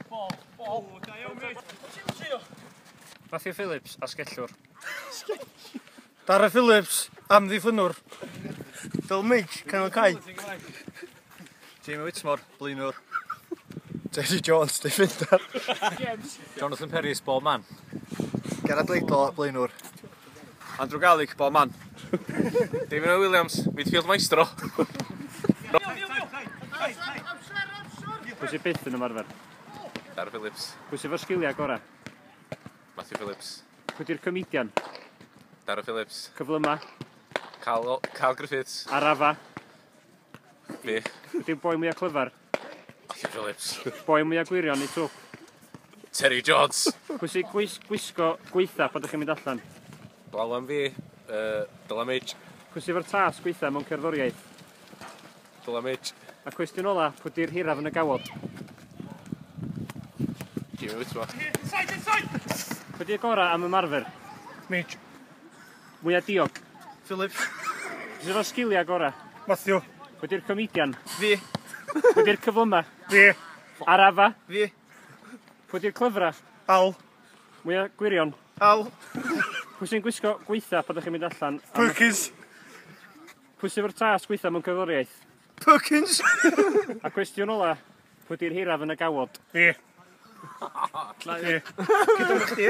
Bol, bol. O, da iawn, mate. Trio. Matthew Phillips, asgellwr. Dara Phillips, amddiffynwr. Phil Midge, canol cae. Jamie Whitmore, blynwr. Teddy Jones, defender. Jonathan Perry, ball man. Gerard Leidlo, blynwr. Andrew Garlic, bob man. David Owen Williams, midfield maestro. Pwy sy'n byth yn ymarfer? Dar Phillips. Pwy sy'n fawr sgiliau gorau? Matthew Phillips. Pwy di'r comedian? Dar Phillips. Cyflyma? Cal, Cal Griffiths. Arafa? Fi. Pwy di'r boi mwyaf clyfar? Matthew Phillips. Boi mwyaf gwirion i twp. Terry Jones. Pwy sy'n gwis, gwisgo gweitha pan ydych chi'n mynd allan? Blaw am fi, uh, Dylan Midge. Pwy sy'n fawr tas gweitha mewn cerddoriaeth? Dylan Midge. A cwestiwn ola, pwy di'r hiraf yn y gawod? Jimmy Whitmore. Pwy di'r gorau am ymarfer? Midge. Mwya diog. Philip. Sydd efo'r sgiliau gorau? Matthew. Wedi'r comedian? Fi. Wedi'r cyflyma? Fi. Arafa? Fi. Wedi'r clyfra? Al. Mwya gwirion? Al. Pwy sy'n gwisgo gweitha pan ydych chi'n mynd allan? Perkins. Pwy sy'n fawr tas gweitha mewn cyforiaeth? Perkins. A cwestiwn ola, pwy di'r hiraf yn y gawod? Fi. Fi. Cydwch chi?